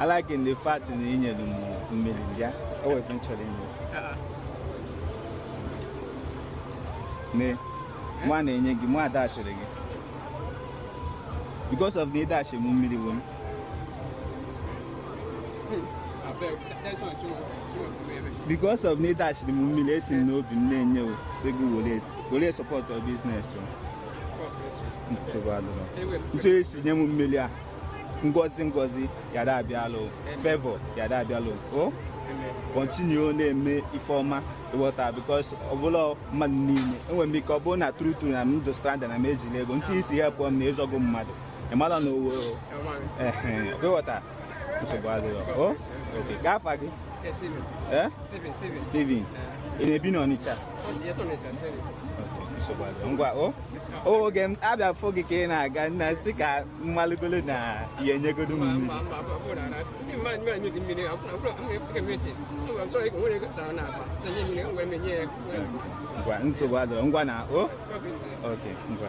I like the fact na ị nyere m mmiri a o nwe ife m chọrọ ni ne mụwa na-enye gị mụwa dashiri gị because na ị dashiri mụ mmiri o because na ị dashiri mụ mmiri esi m n'obi m na-enye o sị gị were were support your business o ntu i si nye m mmiri a ngozi ngozi yada abịala o favor yada abịala o continue na-eme ife ọma ịghọta because ọ bụrọ mmadụ niile enwere m ike ọ bụrụ na true true na m dị stranded na m ejirọ ego ntu i si help m na ị zọgo mmadụ ị mara na owo ịghọta nsogbu adịghị o okay ka afa gị Yes, Steven. ee Steven, Steven. Steven ị na-ebi n'ọnịcha Yes, Ọnịcha. nsogbu adịghị ngwa o o oge m abịa fụ gị ka ị na-aga na m sị ka m malụgodu na ị ya-enyegodu m mmiri ngwa nsogbu adịghị ngwa na o okay ngwa